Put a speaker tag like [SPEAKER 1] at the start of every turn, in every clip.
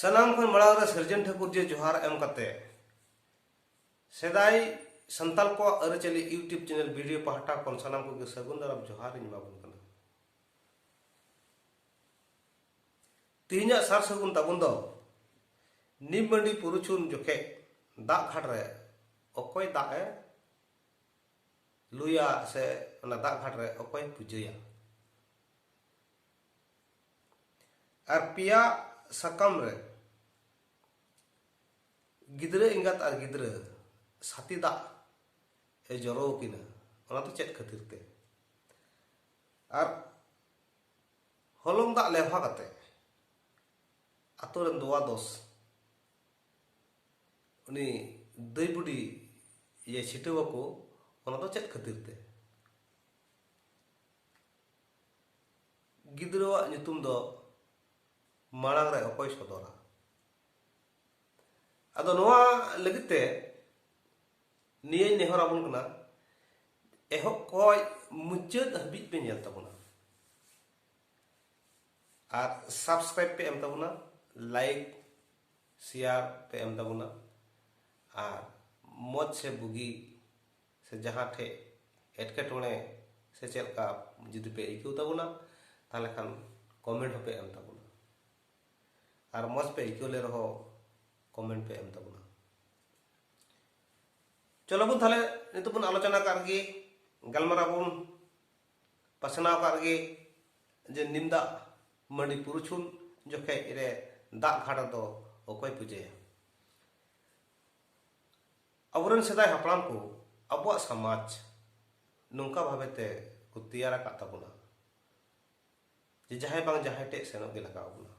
[SPEAKER 1] ᱥᱟᱱᱟᱢ ᱠᱷᱚᱱ ᱢᱟᱲᱟᱝ ᱨᱮ ᱥᱤᱨᱡᱚᱱ ᱴᱷᱟᱹᱠᱩᱨ ᱡᱮ ᱡᱚᱦᱟᱨ ᱮᱢ ᱠᱟᱛᱮ ᱥᱮᱫᱟᱭ ᱥᱟᱱᱛᱟᱞ ᱠᱚᱣᱟᱜ ᱟᱹᱨᱤᱪᱟᱹᱞᱤ ᱤᱭᱩᱴᱤᱭᱩᱵᱽ ᱪᱮᱱᱮᱞ ᱵᱷᱤᱰᱤᱭᱳ ᱯᱟᱦᱴᱟ ᱠᱷᱚᱱ ᱥᱟᱱᱟᱢ ᱠᱚᱜᱮ ᱥᱟᱹᱜᱩᱱ ᱫᱟᱨᱟᱢ ᱡᱚᱦᱟᱨ ᱤᱧ ᱮᱢᱟᱵᱚᱱ ᱠᱟᱱᱟ ᱛᱮᱦᱮᱧᱟᱜ ᱥᱟᱨ ᱥᱟᱹᱜᱩᱱ ᱛᱟᱵᱚᱱ ᱫᱚ ᱱᱤᱢ ᱢᱟᱹᱰᱤ ᱯᱩᱨᱩᱪᱷᱩᱱ ᱡᱚᱠᱷᱮᱡ ᱫᱟᱜ ᱜᱷᱟᱴ ᱨᱮ ᱚᱠᱚᱭ ᱫᱟᱜ ᱮ ᱞᱩᱭᱟ ᱥᱮ ᱚᱱᱟ ᱫᱟᱜ ᱜᱷᱟᱴ ᱨᱮ ᱚᱠᱚᱭ ᱯᱩᱡᱟᱹᱭᱟ ᱟᱨ ᱯᱮᱭᱟ ᱥᱟᱠᱟᱢ ᱨᱮ ᱜᱤᱫᱽᱨᱟᱹ ᱮᱸᱜᱟᱛ ᱟᱨ ᱜᱤᱫᱽᱨᱟᱹ ᱥᱟᱛᱤ ᱫᱟᱜ ᱮ ᱡᱚᱨᱚ ᱟᱹᱠᱤᱱᱟ ᱚᱱᱟ ᱫᱚ ᱪᱮᱫ ᱠᱷᱟᱹᱛᱤᱨ ᱛᱮ ᱟᱨ ᱦᱚᱞᱚᱝ ᱫᱟᱜ ᱞᱮᱵᱷᱟ ᱠᱟᱛᱮ ᱟᱛᱳ ᱨᱮᱱ ᱫᱚᱣᱟ ᱫᱚᱥ ᱩᱱᱤ ᱫᱟᱹᱭ ᱵᱩᱰᱤ ᱤᱭᱟᱹ ᱪᱷᱤᱴᱟᱹᱣ ᱟᱠᱚ ᱚᱱᱟ ᱫᱚ ᱪᱮᱫ ᱠᱷᱟᱹᱛᱤᱨ ᱛᱮ ᱜᱤᱫᱽᱨᱟᱹᱣᱟᱜ ᱧᱩᱛᱩᱢ ᱫᱚ ᱢᱟᱲᱟᱝ ᱨᱮ ᱚᱠᱚᱭ ᱥᱚᱫᱚᱨᱟ ᱟᱫᱚ ᱱᱚᱣᱟ ᱞᱟᱹᱜᱤᱫ ᱛᱮ ᱱᱤᱭᱟᱹᱧ ᱱᱮᱦᱚᱨ ᱟᱵᱚᱱ ᱠᱟᱱᱟ ᱮᱦᱚᱵ ᱠᱷᱚᱡ ᱢᱩᱪᱟᱹᱫ ᱦᱟᱹᱵᱤᱡ ᱯᱮ ᱧᱮᱞ ᱛᱟᱵᱚᱱᱟ ᱟᱨ ᱥᱟᱵᱥᱠᱨᱟᱭᱤᱵ ᱯᱮ ᱮᱢ ᱛᱟᱵᱚᱱᱟ ᱞᱟᱭᱤᱠ ᱥᱮᱭᱟᱨ ᱯᱮ ᱮᱢ ᱛᱟᱵᱚᱱᱟ ᱟᱨ ᱢᱚᱡᱽ ᱥᱮ ᱵᱩᱜᱤ ᱥᱮ ᱡᱟᱦᱟᱸ ᱴᱷᱮᱡ ᱮᱴᱠᱮᱴᱚᱬᱮ ᱥᱮ ᱪᱮᱫ ᱞᱮᱠᱟ ᱡᱩᱫᱤ ᱯᱮ ᱟᱹᱭᱠᱟᱹᱣ ᱛᱟᱵᱚᱱᱟ ᱛᱟᱦᱚᱞᱮ ᱠᱷᱟᱱ ᱠᱚᱢᱮᱱᱴ ᱦᱚᱸᱯᱮ ᱮᱢ ᱛᱟᱵᱚᱱᱟ ᱟᱨ ᱢᱚᱡᱽ ᱯᱮ ᱟᱹᱭᱠᱟᱹᱣ ᱞᱮ ᱨᱮᱦᱚᱸ ᱠᱚᱢᱮᱱᱴ ᱯᱮ ᱮᱢ ᱛᱟᱵᱚᱱᱟ ᱪᱚᱞᱚ ᱵᱚᱱ ᱛᱟᱦᱚᱞᱮ ᱱᱤᱛᱚᱜ ᱵᱚᱱ ᱟᱞᱳᱪᱚᱱᱟ ᱠᱟᱜ ᱜᱮ ᱜᱟᱞᱢᱟᱨᱟᱣ ᱵᱚᱱ ᱯᱟᱥᱱᱟᱣ ᱠᱟᱜ ᱨᱮᱜᱮ ᱡᱮ ᱱᱤᱢ ᱫᱟᱜ ᱢᱟᱹᱰᱤ ᱯᱩᱨᱩᱪᱷᱩᱱ ᱡᱚᱠᱷᱮᱡ ᱨᱮ ᱫᱟᱜ ᱜᱷᱟᱴ ᱨᱮᱫᱚ ᱚᱠᱚᱭ ᱯᱩᱡᱟᱹᱭᱟ ᱟᱵᱚᱨᱮᱱ ᱥᱮᱫᱟᱭ ᱦᱟᱯᱲᱟᱢ ᱠᱚ ᱟᱵᱚᱣᱟᱜ ᱥᱚᱢᱟᱡᱽ ᱱᱚᱝᱠᱟ ᱵᱷᱟᱵᱮ ᱛᱮ ᱠᱚ ᱛᱮᱭᱟᱨ ᱟᱠᱟᱫ ᱛᱟᱵᱚᱱᱟ ᱡᱮ ᱡᱟᱦᱟᱸᱭ ᱵᱟᱝ ᱡᱟᱦᱟᱸᱭ ᱴᱷᱮᱡ ᱥᱮᱱᱚᱜ ᱜᱮ ᱞᱟᱜᱟᱣ ᱵᱚᱱᱟ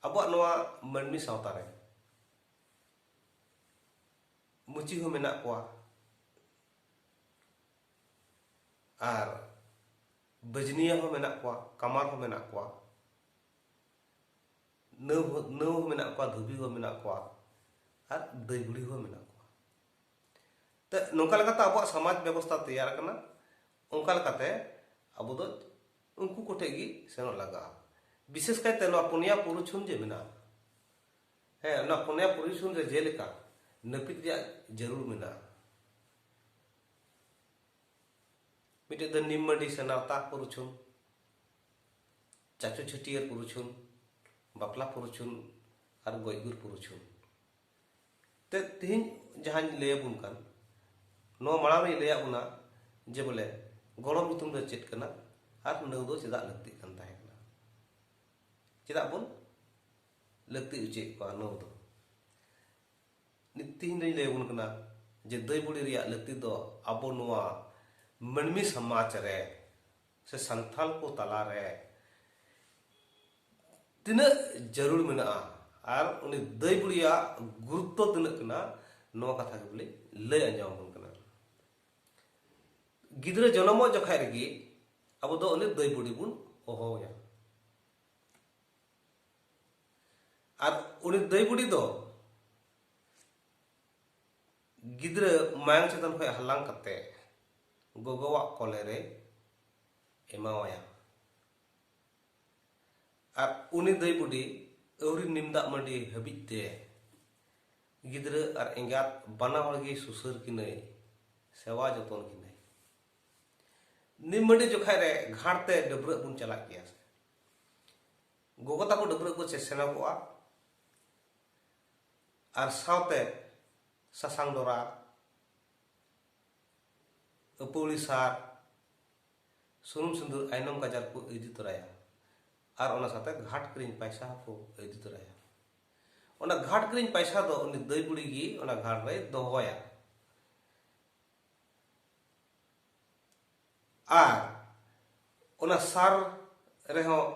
[SPEAKER 1] ᱟᱵᱚᱣᱟᱜ ᱱᱚᱣᱟ ᱢᱟᱹᱱᱢᱤ ᱥᱟᱶᱛᱟ ᱨᱮ ᱢᱩᱪᱤ ᱦᱚᱸ ᱢᱮᱱᱟᱜ ᱠᱚᱣᱟ ᱟᱨ ᱵᱟᱹᱡᱽᱱᱤᱭᱟᱹ ᱦᱚᱸ ᱢᱮᱱᱟᱜ ᱠᱚᱣᱟ ᱠᱟᱢᱟᱨ ᱦᱚᱸ ᱢᱮᱱᱟᱜ ᱠᱚᱣᱟ ᱱᱟᱹᱣ ᱱᱟᱹᱣ ᱦᱚᱸ ᱢᱮᱱᱟᱜ ᱠᱚᱣᱟ ᱫᱷᱩᱵᱤ ᱦᱚᱸ ᱢᱮᱱᱟᱜ ᱠᱚᱣᱟ ᱟᱨ ᱫᱟᱹᱭ ᱵᱩᱲᱦᱤ ᱦᱚᱸ ᱢᱮᱱᱟᱜ ᱠᱚᱣᱟ ᱛᱚ ᱱᱚᱝᱠᱟ ᱞᱮᱠᱟᱛᱮ ᱟᱵᱚᱣᱟᱜ ᱥᱚᱢᱟᱡᱽ ᱵᱮᱵᱚᱥᱛᱷᱟ ᱛᱮᱭᱟᱨ ᱟᱠᱟᱱᱟ ᱚᱱᱠᱟ ᱞᱮᱠᱟᱛᱮ ᱟᱵᱚ ᱫᱚ ᱩᱱᱠᱩ ᱠᱚ ᱴᱷᱮᱱ ᱜᱮ ᱥᱮᱱᱚᱜ ᱞᱟᱜᱟᱜᱼᱟ ᱵᱤᱥᱮᱥ ᱠᱟᱭᱛᱮ ᱱᱚᱣᱟ ᱯᱩᱱᱭᱟ ᱯᱩᱨᱩᱪᱷᱩᱱ ᱡᱮ ᱢᱮᱱᱟᱜᱼᱟ ᱦᱮᱸ ᱚᱱᱟ ᱯᱩᱱᱭᱟ ᱯᱩᱨᱩᱪᱷᱩᱱ ᱨᱮ ᱡᱮᱞᱮᱠᱟ ᱱᱟᱹᱯᱤᱛ ᱨᱮᱭᱟᱜ ᱡᱟᱹᱨᱩᱲ ᱢᱮᱱᱟᱜᱼᱟ ᱢᱤᱫᱴᱮᱡ ᱫᱚ ᱱᱤᱢᱢᱟᱹᱰᱤ ᱥᱮ ᱱᱟᱣᱛᱟ ᱯᱩᱨᱩᱪᱷᱩᱱ ᱪᱟᱪᱚ ᱪᱷᱟᱹᱴᱭᱟᱹᱨ ᱯᱩᱨᱩᱪᱷᱩᱱ ᱵᱟᱯᱞᱟ ᱯᱩᱨᱩᱪᱷᱩᱱ ᱟᱨ ᱜᱚᱡ ᱜᱩᱨ ᱯᱩᱨᱩᱪᱷᱩᱱ ᱛᱮ ᱛᱮᱦᱮᱧ ᱡᱟᱦᱟᱸᱧ ᱞᱟᱹᱭᱟᱵᱚᱱ ᱠᱟᱱ ᱱᱚᱣᱟ ᱢᱟᱲᱟᱝ ᱨᱮᱧ ᱞᱟᱹᱭᱟᱫ ᱵᱚᱱᱟ ᱡᱮ ᱵᱚᱞᱮ ᱜᱚᱲᱚᱢ ᱧᱩᱛᱩᱢ ᱫᱚ ᱪᱮᱫ ᱠᱟᱱᱟ ᱟᱨ ᱱᱟᱹᱣ ᱫᱚ ᱪᱮᱫᱟᱜ ᱞᱟᱹᱠᱛᱤᱜ ᱠᱟᱱ ᱛᱟᱦᱮᱸ ᱠᱟᱱᱟ ᱪᱮᱫᱟᱜ ᱵᱚᱱ ᱞᱟᱹᱠᱛᱤ ᱚᱪᱚᱭᱮᱫ ᱠᱚᱣᱟ ᱱᱟᱹᱣ ᱫᱚ ᱱᱤᱛ ᱛᱤᱦᱤᱧ ᱫᱚᱧ ᱞᱟᱹᱭ ᱟᱵᱚᱱ ᱠᱟᱱᱟ ᱡᱮ ᱫᱟᱹᱭ ᱵᱩᱲᱤ ᱨᱮᱭᱟᱜ ᱞᱟᱹᱠᱛᱤ ᱫᱚ ᱟᱵᱚ ᱱᱚᱣᱟ ᱢᱟᱹᱱᱢᱤ ᱥᱚᱢᱟᱡᱽ ᱨᱮ ᱥᱮ ᱥᱟᱱᱛᱟᱞ ᱠᱚ ᱛᱟᱞᱟ ᱨᱮ ᱛᱤᱱᱟᱹᱜ ᱡᱟᱹᱨᱩᱲ ᱢᱮᱱᱟᱜᱼᱟ ᱟᱨ ᱩᱱᱤ ᱫᱟᱹᱭ ᱵᱩᱲᱤᱭᱟᱜ ᱜᱩᱨᱩᱛᱛᱚ ᱛᱤᱱᱟᱹᱜ ᱠᱟᱱᱟ ᱱᱚᱣᱟ ᱠᱟᱛᱷᱟ ᱜᱮ ᱵᱚᱞᱮ ᱞᱟᱹᱭ ᱟᱸᱡᱚᱢ ᱟᱵᱚᱱ ᱠᱟᱱᱟ ᱜᱤᱫᱽᱨᱟᱹ ᱡᱚᱱᱚᱢᱚᱜ ᱡᱚᱠᱷᱟᱡ ᱨᱮᱜᱮ ᱟᱵᱚ ᱫᱚ ᱩᱱᱤ ᱫᱟᱹᱭ ᱵᱩᱲᱤ ᱵᱚᱱ ᱦᱚᱦᱚᱣᱟᱭᱟ ᱟᱨ ᱩᱱᱤ ᱫᱟᱹᱭ ᱵᱩᱰᱤ ᱫᱚ ᱜᱤᱫᱽᱨᱟᱹ ᱢᱟᱭᱟᱝ ᱪᱮᱛᱟᱱ ᱠᱷᱚᱱ ᱦᱟᱞᱟᱝ ᱠᱟᱛᱮ ᱜᱚᱜᱚᱣᱟᱜ ᱠᱚᱞᱮ ᱨᱮ ᱮᱢᱟᱣᱟᱭᱟ ᱟᱨ ᱩᱱᱤ ᱫᱟᱹᱭ ᱵᱩᱰᱤ ᱟᱹᱣᱨᱤ ᱱᱤᱢ ᱫᱟᱜ ᱢᱟᱹᱰᱤ ᱦᱟᱹᱵᱤᱡ ᱛᱮ ᱜᱤᱫᱽᱨᱟᱹ ᱟᱨ ᱮᱸᱜᱟᱛ ᱵᱟᱱᱟ ᱦᱚᱲ ᱜᱮ ᱥᱩᱥᱟᱹᱨ ᱠᱤᱱᱟᱹᱭ ᱥᱮᱣᱟ ᱡᱚᱛᱚᱱ ᱠᱤᱱᱟᱹᱭ ᱱᱤᱢ ᱢᱟᱹᱰᱤ ᱡᱚᱠᱷᱟᱡ ᱨᱮ ᱜᱷᱟᱴ ᱛᱮ ᱰᱟᱹᱵᱽᱨᱟᱹᱜ ᱵᱚᱱ ᱪᱟᱞᱟᱜ ᱜᱮᱭᱟ ᱜᱚᱜᱚ ᱛᱟᱠᱚ ᱰᱟᱹᱵᱽᱨᱟᱹᱜ ᱠᱚ ᱥᱮᱱᱚᱜᱚᱜᱼᱟ ᱟᱨ ᱥᱟᱶᱛᱮ ᱥᱟᱥᱟᱝ ᱰᱚᱨᱟ ᱟᱹᱯᱟᱹᱣᱲᱤ ᱥᱟᱨ ᱥᱩᱱᱩᱢ ᱥᱤᱸᱫᱩᱨ ᱟᱭᱱᱚᱢ ᱠᱟᱡᱟᱞ ᱠᱚ ᱤᱫᱤ ᱛᱚᱨᱟᱭᱟ ᱟᱨ ᱚᱱᱟ ᱥᱟᱶᱛᱮ ᱜᱷᱟᱴ ᱠᱤᱨᱤᱧ ᱯᱟᱭᱥᱟ ᱦᱚᱸᱠᱚ ᱤᱫᱤ ᱛᱚᱨᱟᱭᱟ ᱚᱱᱟ ᱜᱷᱟᱴ ᱠᱤᱨᱤᱧ ᱯᱟᱭᱥᱟ ᱫᱚ ᱩᱱᱤ ᱫᱟᱹᱭ ᱵᱩᱲᱤ ᱜᱮ ᱚᱱᱟ ᱜᱷᱟᱴ ᱨᱮᱭ ᱫᱚᱦᱚᱭᱟ ᱟᱨ ᱚᱱᱟ ᱥᱟᱨ ᱨᱮᱦᱚᱸ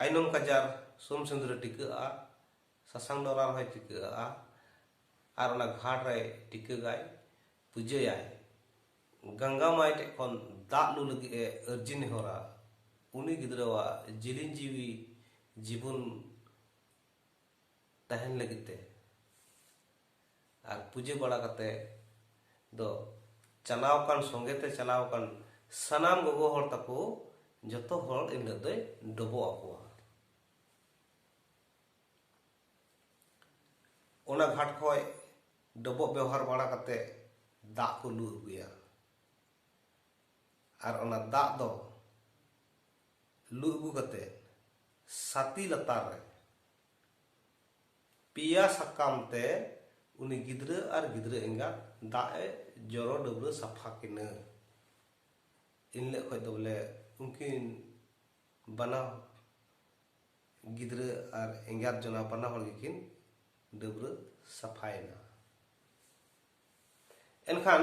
[SPEAKER 1] ᱟᱭᱱᱚᱢ ᱠᱟᱡᱟᱨ ᱥᱩᱱ ᱥᱤᱸᱫᱩᱨᱮ ᱴᱤᱠᱟᱹᱜᱼᱟ ᱥᱟᱥᱟᱝ ᱰᱚᱨᱟ ᱨᱮᱦᱚᱸᱭ ᱴᱤᱠᱟᱹᱜᱼᱟ ᱟᱨ ᱚᱱᱟ ᱜᱷᱟᱴ ᱨᱮ ᱴᱤᱠᱟᱹᱜᱟᱭ ᱯᱩᱡᱟᱹᱭᱟᱭ ᱜᱟᱝᱜᱟ ᱢᱟᱭ ᱴᱷᱮᱡ ᱠᱷᱚᱱ ᱫᱟᱜ ᱞᱩ ᱞᱟᱹᱜᱤᱫ ᱮ ᱟᱹᱨᱡᱤ ᱱᱮᱦᱚᱨᱟ ᱩᱱᱤ ᱜᱤᱫᱽᱨᱟᱹᱣᱟᱜ ᱡᱤᱞᱤᱧ ᱡᱤᱣᱤ ᱡᱤᱵᱚᱱ ᱛᱟᱦᱮᱱ ᱞᱟᱹᱜᱤᱫ ᱛᱮ ᱟᱨ ᱯᱩᱡᱟᱹ ᱵᱟᱲᱟ ᱠᱟᱛᱮ ᱫᱚ ᱪᱟᱞᱟᱣ ᱟᱠᱟᱱ ᱥᱚᱸᱜᱮ ᱛᱮ ᱪᱟᱞᱟᱣ ᱟᱠᱟᱱ ᱥᱟᱱᱟᱢ ᱜᱚᱜᱚ ᱦᱚᱲ ᱛᱟᱠᱚ ᱡᱚᱛᱚ ᱦᱚᱲ ᱮᱱ ᱦᱤᱞᱳᱜ ᱫᱚᱭ ᱰᱚᱵᱚᱜ ᱟᱠᱚᱣᱟ ᱚᱱᱟ ᱜᱷᱟᱴ ᱠᱷᱚᱡ ᱰᱚᱵᱚᱜ ᱵᱮᱣᱦᱟᱨ ᱵᱟᱲᱟ ᱠᱟᱛᱮ ᱫᱟᱜ ᱠᱚ ᱞᱩ ᱟᱹᱜᱩᱭᱟ ᱟᱨ ᱚᱱᱟ ᱫᱟᱜ ᱫᱚ ᱞᱩ ᱟᱹᱜᱩ ᱠᱟᱛᱮ ᱥᱟᱛᱤ ᱞᱟᱛᱟᱨ ᱨᱮ ᱯᱮᱭᱟ ᱥᱟᱠᱟᱢ ᱛᱮ ᱩᱱᱤ ᱜᱤᱫᱽᱨᱟᱹ ᱟᱨ ᱜᱤᱫᱽᱨᱟᱹ ᱮᱸᱜᱟᱛ ᱫᱟᱜ ᱮ ᱡᱚᱨᱚ ᱰᱟᱹᱵᱽᱨᱟᱹ ᱥᱟᱯᱷᱟ ᱠᱤᱱᱟᱹ ᱮᱱᱦᱤᱞᱳᱜ ᱠᱷᱚᱱ ᱫᱚ ᱵᱚᱞᱮ ᱩᱱᱠᱤᱱ ᱵᱟᱱᱟ ᱜᱤᱫᱽᱨᱟᱹ ᱟᱨ ᱮᱸᱜᱟᱛ ᱡᱚᱱᱟ ᱵᱟᱱᱟ ᱦᱚᱲ ᱜᱮᱠᱤᱱ ᱰᱟᱹᱵᱽᱨᱟᱹ ᱥᱟᱯᱷᱟᱭᱮᱱᱟ ᱮᱱᱠᱷᱟᱱ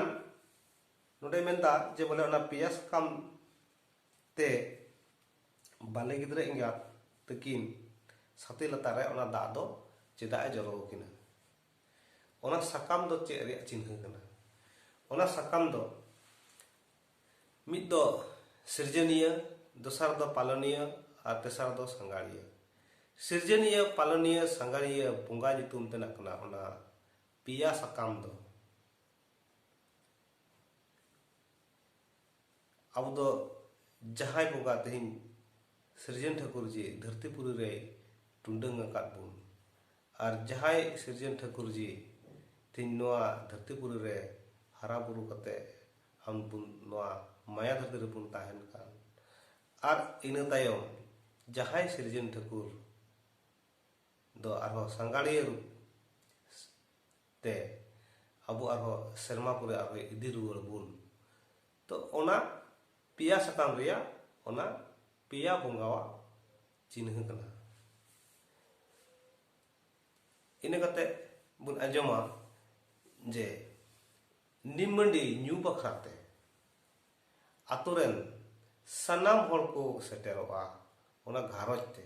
[SPEAKER 1] ᱱᱚᱰᱮ ᱢᱮᱱᱫᱟ ᱡᱮ ᱵᱚᱞᱮ ᱚᱱᱟ ᱯᱮᱭᱟ ᱥᱟᱠᱟᱢ ᱛᱮ ᱵᱟᱞᱮ ᱜᱤᱫᱽᱨᱟᱹ ᱮᱸᱜᱟᱛ ᱛᱟᱹᱠᱤᱱ ᱥᱟᱛᱮ ᱞᱟᱛᱟᱨ ᱨᱮ ᱚᱱᱟ ᱫᱟᱜ ᱫᱚ ᱪᱮᱫᱟᱜ ᱮ ᱡᱚᱨᱚ ᱟᱹᱠᱤᱱᱟ ᱚᱱᱟ ᱥᱟᱠᱟᱢ ᱫᱚ ᱪᱮᱫ ᱨᱮᱭᱟᱜ ᱪᱤᱱᱦᱟᱹ ᱠᱟᱱᱟ ᱚᱱᱟ ᱥᱟᱠᱟᱢ ᱫᱚ ᱢᱤᱫ ᱫᱚ ᱥᱤᱨᱡᱚᱱᱤᱭᱟᱹ ᱫᱚᱥᱟᱨ ᱫᱚ ᱯᱟᱞᱚᱱᱤᱭᱟᱹ ᱟᱨ ᱛᱮᱥᱟᱨ ᱫᱚ ᱥᱟᱸᱜᱟᱲᱤᱭᱟᱹ ᱥᱤᱨᱡᱚᱱᱤᱭᱟᱹ ᱯᱟᱞᱚᱱᱤᱭᱟᱹ ᱥᱟᱸᱜᱟᱲᱤᱭᱟᱹ ᱵᱚᱸᱜᱟ ᱧᱩᱛᱩᱢ ᱛᱮᱱᱟᱜ ᱠᱟᱱᱟ ᱚᱱᱟ ᱯᱮᱭᱟ ᱥᱟᱠᱟᱢ ᱫᱚ ᱟᱵᱚ ᱫᱚ ᱡᱟᱦᱟᱸᱭ ᱵᱚᱸᱜᱟ ᱛᱮᱦᱮᱧ ᱥᱤᱨᱡᱚᱱ ᱴᱷᱟᱹᱠᱩᱨ ᱡᱤ ᱫᱷᱟᱹᱨᱛᱤ ᱯᱩᱨᱤ ᱨᱮᱭ ᱴᱩᱰᱟᱹᱝ ᱟᱠᱟᱫ ᱵᱚᱱ ᱟᱨ ᱡᱟᱦᱟᱸᱭ ᱥᱤᱨᱡᱚᱱ ᱴᱷᱟᱹᱠᱩᱨ ᱡᱤ ᱛᱮᱦᱮᱧ ᱱᱚᱣᱟ ᱫᱷᱟᱹᱨᱛᱤ ᱯᱩᱨᱤ ᱨᱮ ᱦᱟᱨᱟ ᱵᱩᱨᱩ ᱠᱟᱛᱮ ᱟᱢ ᱵᱚᱱ ᱱᱚᱣᱟ ᱢᱟᱭᱟ ᱫᱷᱟᱹᱨᱛᱤ ᱨᱮᱵᱚᱱ ᱛᱟᱦᱮᱱ ᱠᱟᱱ ᱟᱨ ᱤᱱᱟᱹ ᱛᱟᱭᱚᱢ ᱡᱟᱦᱟᱸᱭ ᱥᱤᱨᱡᱚᱱ ᱴᱷᱟᱹᱠᱩᱨ ᱫᱚ ᱟᱨᱦᱚᱸ ᱥᱟᱸᱜᱟᱲᱤᱭᱟᱹ ᱨᱩᱯ ᱛᱮ ᱟᱵᱚ ᱟᱨᱦᱚᱸ ᱥᱮᱨᱢᱟ ᱯᱚᱨᱮ ᱟᱨᱦᱚᱸ ᱤᱫᱤ ᱨᱩᱣᱟᱹᱲ ᱵᱚᱱ ᱛᱚ ᱚᱱᱟ ᱯᱮᱭᱟ ᱥᱟᱠᱟᱢ ᱨᱮᱭᱟᱜ ᱚᱱᱟ ᱯᱮᱭᱟ ᱵᱚᱸᱜᱟᱣᱟᱜ ᱪᱤᱱᱦᱟᱹ ᱠᱟᱱᱟ ᱤᱱᱟᱹ ᱠᱟᱛᱮ ᱵᱚᱱ ᱟᱸᱡᱚᱢᱟ ᱡᱮ ᱱᱤᱢᱟᱹᱰᱤ ᱧᱩ ᱵᱟᱠᱷᱨᱟ ᱛᱮ ᱟᱛᱳ ᱨᱮᱱ ᱥᱟᱱᱟᱢ ᱦᱚᱲ ᱠᱚ ᱥᱮᱴᱮᱨᱚᱜᱼᱟ ᱚᱱᱟ ᱜᱷᱟᱨᱚᱸᱡᱽ ᱛᱮ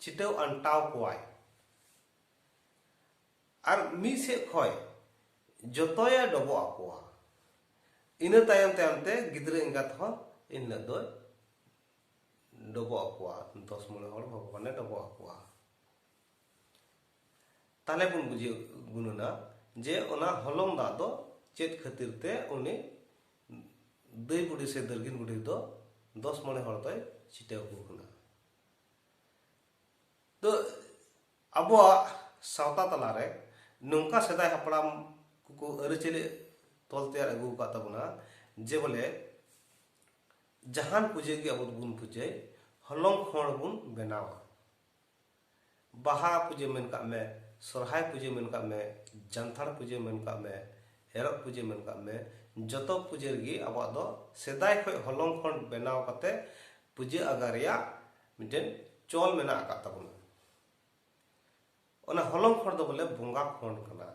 [SPEAKER 1] ᱪᱷᱤᱴᱟᱹᱣ ᱟᱱᱴᱟᱣ ᱠᱚᱣᱟᱭ ᱟᱨ ᱢᱤᱫ ᱥᱮᱫ ᱠᱷᱚᱱ ᱡᱚᱛᱚᱭᱮ ᱰᱚᱵᱚᱜ ᱟᱠᱚᱣᱟ ᱤᱱᱟᱹ ᱛᱟᱭᱚᱢ ᱛᱟᱭᱚᱢ ᱛᱮ ᱜᱤᱫᱽᱨᱟᱹ ᱮᱸᱜᱟᱛ ᱦᱚᱸ ᱤᱱ ᱦᱤᱞᱳᱜ ᱫᱚᱭ ᱰᱚᱵᱚᱜ ᱟᱠᱚᱣᱟ ᱫᱚᱥ ᱢᱚᱬᱮ ᱦᱚᱲ ᱵᱷᱚᱜᱚᱵᱟᱱᱮ ᱰᱚᱵᱚᱜ ᱟᱠᱚᱣᱟ ᱛᱟᱦᱞᱮ ᱵᱚᱱ ᱵᱩᱡᱷᱟᱹᱣ ᱜᱩᱱᱟᱹᱱᱟ ᱡᱮ ᱚᱱᱟ ᱦᱚᱞᱚᱝ ᱫᱟᱜ ᱫᱚ ᱪᱮᱫ ᱠᱷᱟᱹᱛᱤᱨ ᱛᱮ ᱩᱱᱤ ᱫᱟᱹᱭ ᱵᱩᱰᱷᱤ ᱥᱮ ᱫᱟᱹᱨᱜᱤᱱ ᱵᱩᱰᱷᱤ ᱫᱚ ᱫᱚᱥ ᱢᱚᱬᱮ ᱦᱚᱲ ᱫᱚᱭ ᱪᱷᱤᱴᱟᱹᱣ ᱟᱠᱚ ᱠᱟᱱᱟ ᱫᱚ ᱟᱵᱚᱣᱟᱜ ᱥᱟᱶᱛᱟ ᱛᱟᱞᱟᱨᱮ ᱱᱚᱝᱠᱟ ᱥᱮᱫᱟᱭ ᱦᱟᱯᱲᱟᱢ ᱠᱚᱠᱚ ᱟᱹᱨᱤᱪᱟᱹᱞᱤ ᱛᱚᱞ ᱛᱮᱭᱟᱨ ᱟᱹᱜᱩ ᱟᱠᱟᱫ ᱛᱟᱵᱚᱱᱟ ᱡᱮ ᱵᱚᱞᱮ ᱡᱟᱦᱟᱱ ᱯᱩᱡᱟᱹ ᱜᱮ ᱟᱵᱚ ᱫᱚᱵᱚᱱ ᱯᱩᱡᱟᱹᱭ ᱦᱚᱞᱚᱝ ᱠᱷᱚᱲ ᱵᱚᱱ ᱵᱮᱱᱟᱣᱟ ᱵᱟᱦᱟ ᱯᱩᱡᱟᱹ ᱢᱮᱱ ᱠᱟᱜ ᱢᱮ, ᱥᱚᱨᱦᱟᱭ ᱯᱩᱡᱟᱹ ᱢᱮᱱ ᱠᱟᱜ ᱢᱮ, ᱡᱟᱱᱛᱷᱟᱲ ᱯᱩᱡᱟᱹ ᱢᱮᱱ ᱠᱟᱜ ᱢᱮ, ᱮᱨᱚᱜ ᱯᱩᱡᱟᱹ ᱢᱮᱱ ᱠᱟᱜ ᱢᱮ, ᱡᱚᱛᱚ ᱯᱩᱡᱟᱹ ᱨᱮᱜᱮ ᱟᱵᱚᱣᱟᱜ ᱫᱚ ᱥᱮᱫᱟᱭ ᱠᱷᱚᱱ ᱦᱚᱞᱚᱝ ᱠᱷᱚᱱ ᱵᱮᱱᱟᱣ ᱠᱟᱛᱮ ᱯᱩᱡᱟᱹ ᱟᱜᱟ ᱨᱮᱭᱟᱜ ᱢᱤᱫᱴᱮᱱ ᱪᱚᱞ ᱢᱮᱱᱟᱜ ᱟᱠᱟᱫ ᱛᱟᱵᱚᱱᱟ᱾ ᱚᱱᱟ ᱦᱚᱞᱚᱝ ᱠᱷᱚᱱ ᱫᱚ ᱵᱚᱞᱮ ᱵᱚᱸᱜᱟ ᱠᱷᱚᱱ ᱠᱟᱱᱟ᱾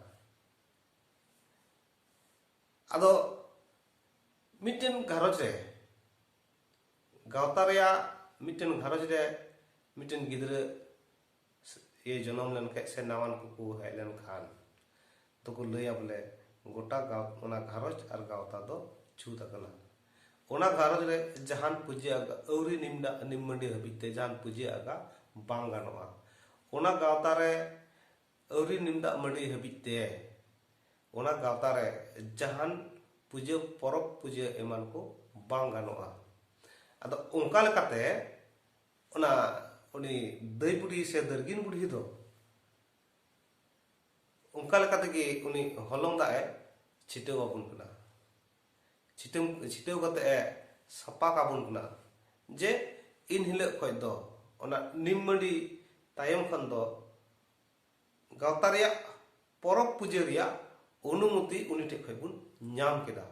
[SPEAKER 1] ᱟᱫᱚ ᱢᱤᱫᱴᱮᱱ ᱜᱷᱟᱨᱚᱸᱡᱽ ᱨᱮ ᱜᱟᱶᱛᱟ ᱨᱮᱭᱟᱜ ᱢᱤᱫᱴᱮᱱ ᱜᱷᱟᱨᱚᱸᱡᱽ ᱨᱮ ᱢᱤᱫᱴᱮᱱ ᱜᱤᱫᱽᱨᱟᱹ ᱤᱭᱟᱹ ᱡᱚᱱᱚᱢ ᱞᱮᱱᱠᱷᱟᱡ ᱥᱮ ᱱᱟᱣᱟᱱ ᱠᱚᱠᱚ ᱦᱮᱡ ᱞᱮᱱᱠᱷᱟᱱ ᱫᱚᱠᱚ ᱞᱟᱹᱭᱟ ᱵᱚᱞᱮ ᱜᱚᱴᱟ ᱜᱟᱶ ᱚᱱᱟ ᱜᱷᱟᱨᱚᱸᱡᱽ ᱟᱨ ᱜᱟᱶᱛᱟ ᱫᱚ ᱪᱷᱩᱛ ᱟᱠᱟᱱᱟ ᱚᱱᱟ ᱜᱷᱟᱨᱚᱸᱡᱽ ᱨᱮ ᱡᱟᱦᱟᱱ ᱯᱩᱡᱟᱹ ᱟᱜᱟ ᱟᱹᱣᱨᱤ ᱱᱤᱢᱰᱟ ᱱᱤᱢ ᱢᱟᱹᱰᱤ ᱦᱟᱹᱵᱤᱡ ᱛᱮ ᱡᱟᱦᱟᱱ ᱯᱩᱡᱟᱹ ᱟᱜᱟ ᱵᱟᱝ ᱜᱟᱱᱚᱜᱼᱟ ᱚᱱᱟ ᱜᱟᱶᱛᱟ ᱨᱮ ᱟᱹᱣᱨᱤ ᱱᱤᱢ ᱫᱟᱜ ᱢᱟᱹᱰᱤ ᱦᱟᱹᱵᱤᱡ ᱛᱮ ᱚᱱᱟ ᱜᱟᱶᱛᱟ ᱨᱮ ᱡᱟᱦᱟᱱ ᱯᱩᱡᱟᱹ ᱯᱚᱨᱚᱵᱽ ᱯᱩᱡᱟᱹ ᱮᱢᱟᱱ ᱠᱚ ᱵᱟᱝ ᱜᱟᱱᱚᱜᱼᱟ ᱟᱫᱚ ᱚᱱᱠᱟ ᱞᱮᱠᱟᱛᱮ ᱚᱱᱟ ᱩᱱᱤ ᱫᱟᱹᱭ ᱵᱩᱰᱷᱤ ᱥᱮ ᱫᱟᱹᱨᱜᱤᱱ ᱵᱩᱰᱷᱤ ᱫᱚ ᱚᱱᱠᱟ ᱞᱮᱠᱟ ᱛᱮᱜᱮ ᱩᱱᱤ ᱦᱚᱞᱚᱝ ᱫᱟᱜ ᱮ ᱪᱷᱤᱴᱟᱹᱣ ᱟᱵᱚᱱ ᱠᱟᱱᱟ ᱪᱷᱤᱴᱟᱹᱣ ᱪᱷᱤᱴᱟᱹᱣ ᱠᱟᱛᱮ ᱮ ᱥᱟᱯᱟ ᱠᱟᱵᱚᱱ ᱠᱟᱱᱟ ᱡᱮ ᱤᱱ ᱦᱤᱞᱳᱜ ᱠᱷᱚᱱ ᱫᱚ ᱚᱱᱟ ᱱᱤᱢ ᱢᱟᱹᱰᱤ ᱛᱟᱭᱚᱢ ᱠᱷᱚᱱ ᱫᱚ ᱜᱟᱶᱛᱟ ᱨᱮᱭᱟᱜ ᱯᱚᱨᱚᱵᱽ ᱯᱩᱡᱟᱹ ᱨᱮᱭᱟᱜ ᱚᱱᱩᱢᱚᱛᱤ ᱩᱱᱤ ᱴᱷᱮᱱ ᱠᱷᱚᱱ ᱵᱚᱱ ᱧᱟᱢ ᱠᱮᱫᱟ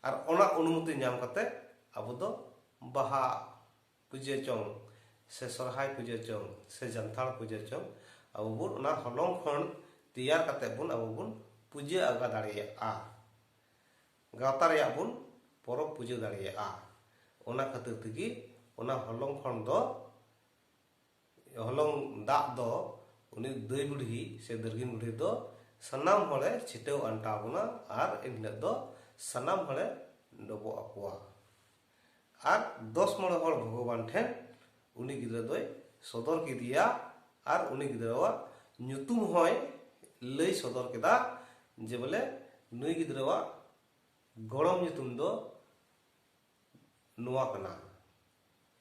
[SPEAKER 1] ᱟᱨ ᱚᱱᱟ ᱚᱱᱩᱢᱚᱛᱤ ᱧᱟᱢ ᱠᱟᱛᱮ ᱟᱵᱚ ᱫᱚ ᱵᱟᱦᱟ ᱯᱩᱡᱟᱹ ᱪᱚᱝ ᱥᱮ ᱥᱚᱨᱦᱟᱭ ᱯᱩᱡᱟᱹ ᱪᱚᱝ ᱥᱮ ᱡᱟᱱᱛᱷᱟᱲ ᱯᱩᱡᱟᱹ ᱪᱚᱝ ᱟᱵᱚ ᱵᱚᱱ ᱚᱱᱟ ᱦᱚᱞᱚᱝ ᱠᱷᱚᱱ ᱛᱮᱭᱟᱨ ᱠᱟᱛᱮ ᱵᱚᱱ ᱟᱵᱚ ᱵᱚᱱ ᱯᱩᱡᱟᱹ ᱟᱸᱜᱟ ᱫᱟᱲᱮᱭᱟᱜᱼᱟ ᱜᱟᱶᱛᱟ ᱨᱮᱭᱟᱜ ᱵᱚᱱ ᱯᱚᱨᱚᱵᱽ ᱯᱩᱡᱟᱹ ᱫᱟᱲᱮᱭᱟᱜᱼᱟ ᱚᱱᱟ ᱠᱷᱟᱹᱛᱤᱨ ᱛᱮᱜᱮ ᱚᱱᱟ ᱦᱚᱞᱚᱝ ᱠᱷᱚᱱ ᱫᱚ ᱦᱚᱞᱚᱝ ᱫᱟᱜ ᱫᱚ ᱩᱱᱤ ᱫᱟᱹᱭ ᱵᱩᱰᱷᱤ ᱥᱮ ᱫᱟᱹᱨᱜᱤᱱ ᱵᱩᱰᱷᱤ ᱫᱚ ᱥᱟᱱᱟᱢ ᱦᱚᱲᱮ ᱪᱷᱤᱴᱟᱹᱣ ᱟᱱᱴᱟᱣ ᱵᱚᱱᱟ ᱟᱨ ᱮᱱᱦᱤᱞᱳᱜ ᱫᱚ ᱥᱟᱱᱟᱢ ᱦᱚᱲᱮ ᱰᱚᱵᱚᱜ ᱟᱠᱚᱣᱟ ᱟᱨ ᱫᱚᱥ ᱢᱚᱬᱮ ᱦᱚᱲ ᱵᱷᱚᱜᱚᱵᱟᱱ ᱴᱷᱮᱱ ᱩᱱᱤ ᱜᱤᱫᱽᱨᱟᱹ ᱫᱚᱭ ᱥᱚᱫᱚᱨ ᱠᱮᱫᱮᱭᱟ ᱟᱨ ᱩᱱᱤ ᱜᱤᱫᱽᱨᱟᱹᱣᱟᱜ ᱧᱩᱛᱩᱢ ᱦᱚᱸᱭ ᱞᱟᱹᱭ ᱥᱚᱫᱚᱨ ᱠᱮᱫᱟ ᱡᱮ ᱵᱚᱞᱮ ᱱᱩᱭ ᱜᱤᱫᱽᱨᱟᱹᱣᱟᱜ ᱜᱚᱲᱚᱢ ᱧᱩᱛᱩᱢ ᱫᱚ ᱱᱚᱣᱟ ᱠᱟᱱᱟ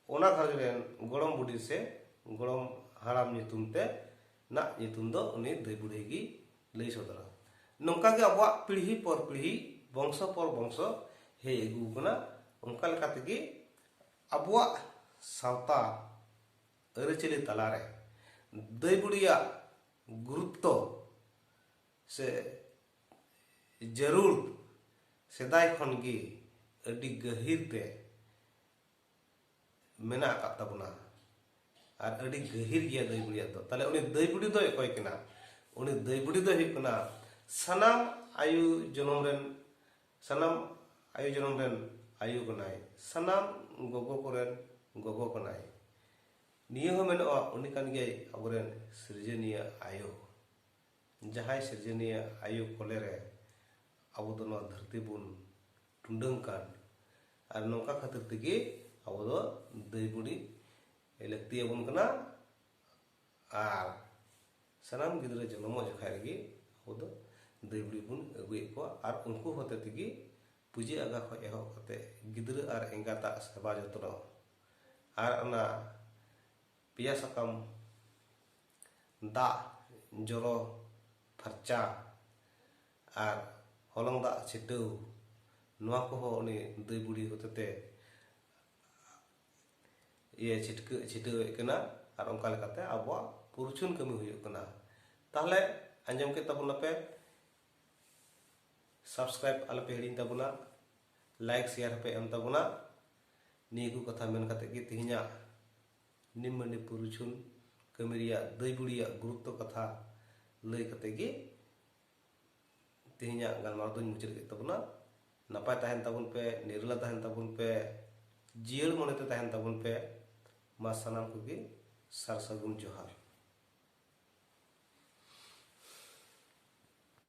[SPEAKER 1] ᱚᱱᱟ ᱜᱷᱟᱨᱚᱸᱡᱽ ᱨᱮᱱ ᱜᱚᱲᱚᱢ ᱵᱩᱰᱷᱤ ᱥᱮ ᱜᱚᱲᱚᱢ ᱦᱟᱲᱟᱢ ᱧᱩᱛᱩᱢ ᱛᱮ ᱱᱟᱜ ᱧᱩᱛᱩᱢ ᱫᱚ ᱩᱱᱤ ᱫᱟᱹᱭ ᱵᱩᱲᱦᱤ ᱜᱮ ᱞᱟᱹᱭ ᱥᱚᱫᱚᱨᱟ ᱱᱚᱝᱠᱟ ᱜᱮ ᱟᱵᱚᱣᱟᱜ ᱯᱤᱲᱦᱤ ᱯᱚᱨ ᱯᱤᱲᱦᱤ ᱵᱚᱝᱥᱚ ᱯᱚᱨ ᱵᱚᱝᱥᱚ ᱦᱮᱡ ᱟᱹᱜᱩ ᱟᱠᱟᱱᱟ ᱚᱱᱠᱟ ᱞᱮᱠᱟ ᱛᱮᱜᱮ ᱟᱵᱚᱣᱟᱜ ᱥᱟᱶᱛᱟ ᱟᱹᱨᱤᱪᱟᱹᱞᱤ ᱛᱟᱞᱟᱨᱮ ᱫᱟᱹᱭ ᱵᱩᱲᱦᱤᱭᱟᱜ ᱜᱩᱨᱩᱛᱛᱚ ᱥᱮ ᱡᱟᱹᱨᱩᱲ ᱥᱮᱫᱟᱭ ᱠᱷᱚᱱ ᱜᱮ ᱟᱹᱰᱤ ᱜᱟᱹᱦᱤᱨ ᱛᱮ ᱢᱮᱱᱟᱜ ᱟᱠᱟᱫ ᱛᱟᱵᱚᱱᱟ ᱟᱨ ᱟᱹᱰᱤ ᱜᱟᱹᱦᱤᱨ ᱜᱮᱭᱟ ᱫᱟᱹᱭ ᱵᱩᱲᱤᱭᱟᱜ ᱫᱚ ᱛᱟᱦᱞᱮ ᱩᱱᱤ ᱫᱟᱹᱭ ᱵᱩᱲᱤ ᱫᱚᱭ ᱚᱠᱚᱭ ᱠᱟᱱᱟ ᱩᱱᱤ ᱫᱟᱹᱭ ᱵᱩᱲᱤ ᱫᱚᱭ ᱦᱩᱭᱩᱜ ᱠᱟᱱᱟ ᱥᱟᱱᱟᱢ ᱟᱭᱩ ᱡᱚᱱᱚᱢ ᱨᱮᱱ ᱥᱟᱱᱟᱢ ᱟᱭᱩ ᱡᱚᱱᱚᱢ ᱨᱮᱱ ᱟᱭᱩ ᱠᱟᱱᱟᱭ ᱥᱟᱱᱟᱢ ᱜᱚᱜᱚ ᱠᱚᱨᱮᱱ ᱜᱚᱜᱚ ᱠᱟᱱᱟᱭ ᱱᱤᱭᱟᱹ ᱦᱚᱸ ᱢᱮᱱᱚᱜᱼᱟ ᱩᱱᱤ ᱠᱟᱱ ᱜᱮᱭᱟᱭ ᱟᱵᱚᱨᱮᱱ ᱥᱤᱨᱡᱚᱱᱤᱭᱟᱹ ᱟᱭᱳ ᱡᱟᱦᱟᱸᱭ ᱥᱤᱨᱡᱚᱱᱤᱭᱟᱹ ᱟᱭᱳ ᱠᱚᱞᱮ ᱨᱮ ᱟᱵᱚ ᱫᱚ ᱱᱚᱣᱟ ᱫᱷᱟᱹᱨᱛᱤ ᱵᱚᱱ ᱴᱩᱰᱟᱹᱝ ᱠᱟᱱ ᱟᱨ ᱱᱚᱝᱠᱟ ᱠᱷᱟᱹᱛᱤᱨ ᱛᱮᱜᱮ ᱟᱵᱚ ᱫᱚ ᱫᱟᱹᱭ ᱵᱩᱰᱤ ᱞᱟᱹᱠᱛᱤ ᱟᱵᱚᱱ ᱠᱟᱱᱟ ᱟᱨ ᱥᱟᱱᱟᱢ ᱜᱤᱫᱽᱨᱟᱹ ᱡᱚᱱᱚᱢᱚᱜ ᱡᱚᱠᱷᱟᱡ ᱨᱮᱜᱮ ᱟᱵᱚ ᱫᱚ ᱫᱟᱹᱭ ᱵᱩᱰᱤ ᱵᱚᱱ ᱟᱹᱜᱩᱭᱮᱫ ᱠᱚᱣᱟ ᱟᱨ ᱩᱱᱠᱩ ᱦᱚᱛᱮ ᱛᱮᱜᱮ ᱯᱩᱡᱟᱹ ᱟᱜᱟ ᱠᱷᱚᱡ ᱮᱦᱚᱵ ᱠᱟᱛᱮ ᱜᱤᱫᱽᱨᱟᱹ ᱟᱨ ᱮᱸᱜᱟᱛᱟᱜ ᱥᱮᱵᱟ ᱡᱚᱛᱱᱚ ᱟᱨ ᱚᱱᱟ ᱯᱮᱭᱟ ᱥᱟᱠᱟᱢ ᱫᱟᱜ ᱡᱚᱨᱚ ᱯᱷᱟᱨᱪᱟ ᱟᱨ ᱦᱚᱞᱚᱝ ᱫᱟᱜ ᱪᱷᱤᱴᱟᱹᱣ ᱱᱚᱣᱟ ᱠᱚᱦᱚᱸ ᱩᱱᱤ ᱫᱟᱹᱭ ᱵᱩᱲᱦᱤ ᱦᱚᱛᱮᱛᱮ ᱤᱭᱟᱹ ᱪᱷᱤᱴᱠᱟᱹ ᱪᱷᱤᱴᱟᱹᱣᱮᱫ ᱠᱟᱱᱟ ᱟᱨ ᱚᱱᱠᱟ ᱞᱮᱠᱟᱛᱮ ᱟᱵᱚᱣᱟᱜ ᱯᱩᱨᱪᱷᱩᱱ ᱠᱟᱹᱢᱤ ᱦᱩᱭᱩᱜ ᱠᱟᱱᱟ ᱛᱟᱦᱞᱮ ᱟᱸᱡᱚᱢ ᱠᱮᱫ ᱛᱟᱵᱚᱱᱟᱯᱮ ᱥᱟᱵᱥᱠᱨᱟᱭᱤᱵ ᱟᱞᱚᱯᱮ ᱦᱤᱲᱤᱧ ᱛᱟᱵᱚᱱᱟ ᱞᱟᱭᱤᱠ ᱥᱮᱭᱟᱨ ᱦᱚᱸᱯᱮ ᱮᱢ ᱛᱟᱵᱚᱱᱟ ᱱᱤᱭᱟᱹ ᱠᱚ ᱠᱟᱛᱷᱟ ᱢᱮᱱ ᱠᱟᱛᱮ ᱜᱮ ᱛᱮᱦᱮᱧᱟᱜ ᱱᱤᱢᱢᱟᱹᱱᱤ ᱯᱩᱨᱩᱪᱷᱩᱱ ᱠᱟᱹᱢᱤ ᱨᱮᱭᱟᱜ ᱫᱟᱹᱭ ᱵᱩᱲᱤᱭᱟᱜ ᱜᱩᱨᱩᱛᱛᱚ ᱠᱟᱛᱷᱟ ᱞᱟᱹᱭ ᱠᱟᱛᱮ ᱜᱮ ᱛᱮᱦᱮᱧᱟᱜ ᱜᱟᱞᱢᱟᱨᱟᱣ ᱫᱚᱧ ᱢᱩᱪᱟᱹᱫ ᱠᱮᱫ ᱛᱟᱵᱚᱱᱟ ᱱᱟᱯᱟᱭ ᱛᱟᱦᱮᱱ ᱛᱟᱵᱚᱱ ᱯᱮ ᱱᱤᱨᱞᱟ ᱛᱟᱦᱮᱱ ᱛᱟᱵᱚᱱ ᱯᱮ ᱡᱤᱭᱟᱹᱲ ᱢᱚᱱᱮᱛᱮ ᱛᱟᱦᱮᱱ ᱛᱟᱵᱚᱱ ᱯᱮ ᱢᱟ ᱥᱟᱱᱟᱢ ᱠᱚᱜᱮ ᱥᱟᱨ ᱥᱟᱹᱜᱩᱱ ᱡᱚᱦᱟᱨ